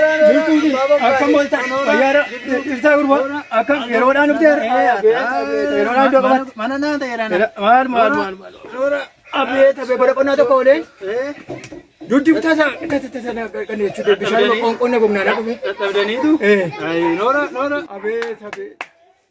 Akkam ooltan fayyaadha ibsaa gurbaa akkam yeroodhaan dhufte yeroodhaan iddoo qabatti mana naa ta'eera maal maal maal maal abeet abee bara qonnaa tokko olee duddi tasa tasa tasa kan jechuudha bishaan qonna gomnaa dha dhufe dadhabdaniitu noora noora abeet abeet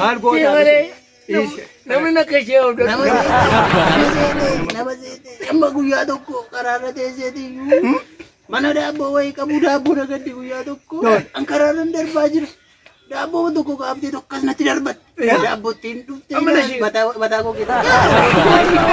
Maal gootaa malee namni akka ishee hawwatu. Nama seetee amma guyyaa tokko karaarra teesseeti iyyuu mana daabboo wayii qabu daabboo nagaddi guyyaa tokko an karaarra darbaa jira. Daabboo tokko kaaftee tokko as natti darbatte. Daabboo ittiin dhuftee mataa koo keessatti.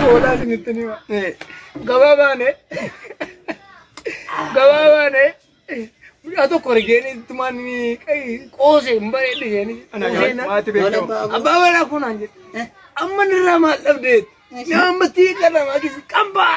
Hoolaa isinitti nima. Gabaa baane. Gabaa baane. Mucaa tokko argeen ittumaan qoose hin bareedde jeeni. Maati beekamu. Abbaa manaa kun aan jedhe. Amma nirraa maal dhabdeet? Nama ammatti kadhama kisi qambaa.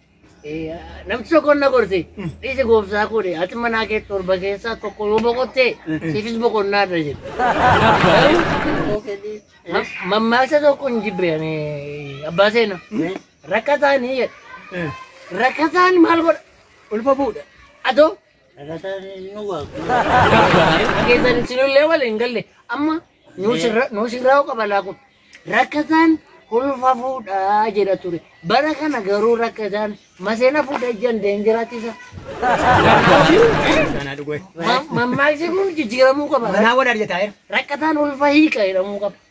Namni tokko na gorse dhiise gooftaa koodhe ati manaa kee torba keessaa tokko yoo boqotte siifis boqonnaa irra jedhe. Mammaaksa tokko hin jibbe ani abbaa seena rakkataan jedhe rakkataan maal godha Ulfa fuudha. adoo Keessan isinillee wal hin galle amma nuus irraa qabalaa kun rakkataan ulfa fuudhaa jedha ture bara kana garuu rakkataan maseena fuudhaa ijaan deengiraatisa. Mammaaksi kun jijjiiramuu qaba. Manaa wal arjataa rakkataan ulfa hiika jedhamuu qaba.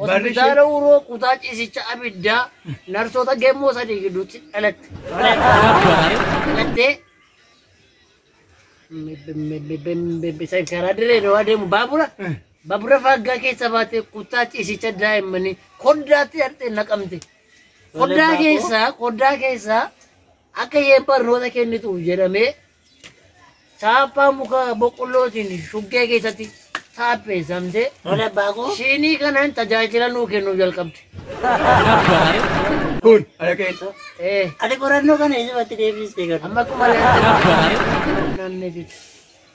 Hospitaala Uroo kutaa ciisicha abiddaa narsoota gemmoo sadii gidduutti dhalatte. Dhalattee karaa dirree dawaa deemu baabura baabura faaggaa keessa baatee kutaa ciisicha daa'immanii koddaatti hidhattee naqamte. Koddaa keessaa koddaa keessaa Akka isheen barnoota kennituuf jedhamee chaappaa muka boqqollootiin shuggee keessatti taapheessamte Mana abbaa koo. shiinii kanaan tajaajila nuu kennuu jalqabde. Kun ala keessa. Ee, Ati qorannoo kana eesumatti deebistee garuu. amma akkuma ilaaltan naannoo jechuudha.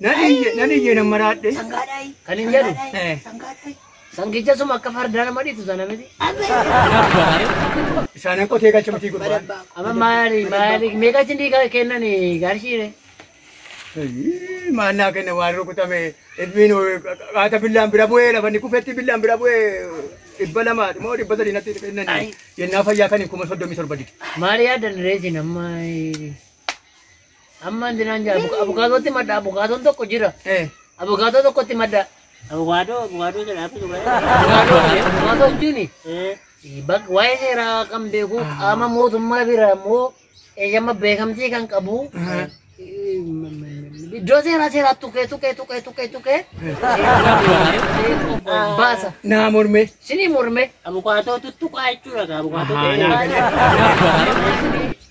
Nan iyye nan iyye nan maraadhe. Sangaadhaayi. Kan hin jedhu. Eh. Sangaadhaayi. Sangicha suma akka fardaa nama dhiitu sana miti. Isaanan qotee galcha mitii gurbaan. Balabbaa. Amma maali maali meeqa isin dhiiga kennan garshiire. Ayyii, Maal naa kenna waan rukutame ilmiin qaata billaan bira bu'ee lafa inni kufetti billaan bira bu'ee dhibba lamaa moo dhibba sadii natti kennan Ayi. yennaa fayyaa kan hin kuma soddomii torba dide. Maali yaadan reesin amma. Amma wanti naan jaa abukaatootti madda abukaatoon tokko jira. Abukaatoo tokkotti madda. Abukaatoo abukaatoo jedha akka dhugaa. Abukaatoo abukaatoo jechuun bakka waa'ee seeraa kan beeku qaama mootummaa bira immoo eeyyama beekamtii kan qabu. Iddoo seeraa seeraa tuqee tuqee tuqee tuqee tuqee baasa. Naa mormee. Sinii mormee. Abukaatoo tuttuqaa jechuudha abukaatoo.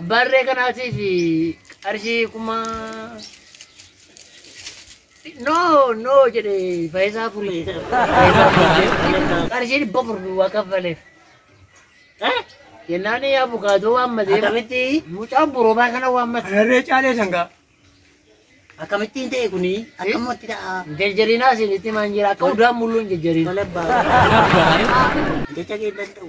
Abbaa harree kanaatiif qarshii kuma noo noo jedhe fayisaa furii fayisaa furii qarshii dhibba afur duwwaa kaffaleef. Eh? Jennaan abukaatoo waammatee akkamitti mucaa borobaa kana waammate. Harree caalee sangaa. Akkamittiin ta'e kuni akkamatti ta'a. Jajjarinaa isinitti himaan jira akka udaan mulluun jajjarin. Tola abbaa. Jecha kee danda'u.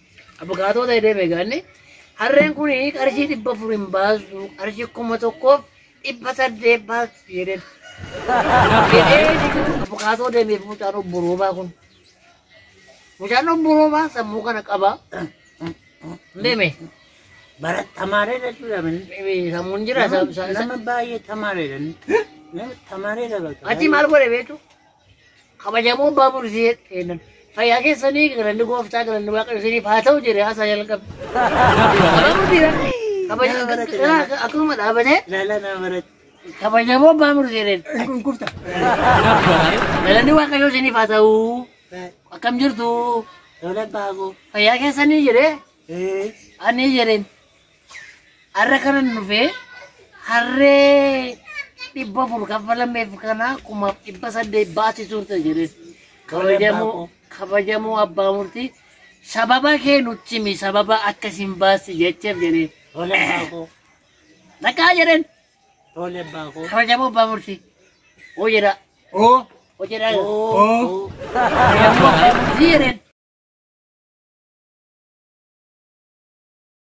Abukaatoo ta'e deeme gaanni harreen kun qarshii dhibba afur hin baasu qarshii kuma tokkoof dhibba saddeet baasu jedheen. Abukaatoo deemeef mucaan obbo Roobaa kun. Mucaan obbo Roobaa sammuu kana qaba. Deeme. Bara tamaareedha jechuudha. Sammuun jira. Nama baay'ee tamaareedha. Nama tamaareedha bakka. Achi maal godhe beektu? kabajamoo abbaa murtii jedhan fayyaa keessanii galanni gooftaa galanni waaqayyo isiniif haa ta'u jedhe haasaa jalqabe. Abbaa murtiidha. Kabaja- Akkuma dhaabane kabajamoo abbaa murtii jedhan galanni waaqayyo isiniif haa ta'u akkam jirtu fayyaa keessanii jedhe ani jedheen Har'a kanan dhufe harree dhibba afur kaffalameef kana kumaaf dhibba saddeet baasi turte jedhe. Kabajamoo kabajamoo abbaa murtii sababa kee nutti himi sababa akkasiin baasi jecheef jedhe. Tole abbaa koo. Dhaqaa jedheen Tole abbaa koo. kabajamoo abbaa murtii. Oo jedha. Oo. Oo jedha. Oo. Kabajamoo abbaa murtii jedheen.